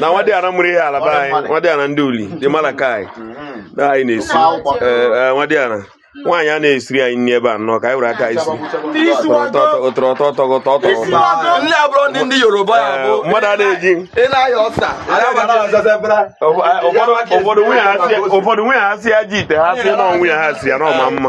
na nwadịana mụrụ ihe alaba anyị nwadịana ndị uli dị malakai na anyị na-esi nwadịana nwaanyị a na-esiri anyị nri ebe a nnọọ ka anyị were aka isi ụtọrọ ụtọ ụtọ ụtọ ụtọ mmadụ a na-eji ụfọdụ nwunye ha si ya ji ite ha si n'ọnwụ ya ha si ya n'ọma mma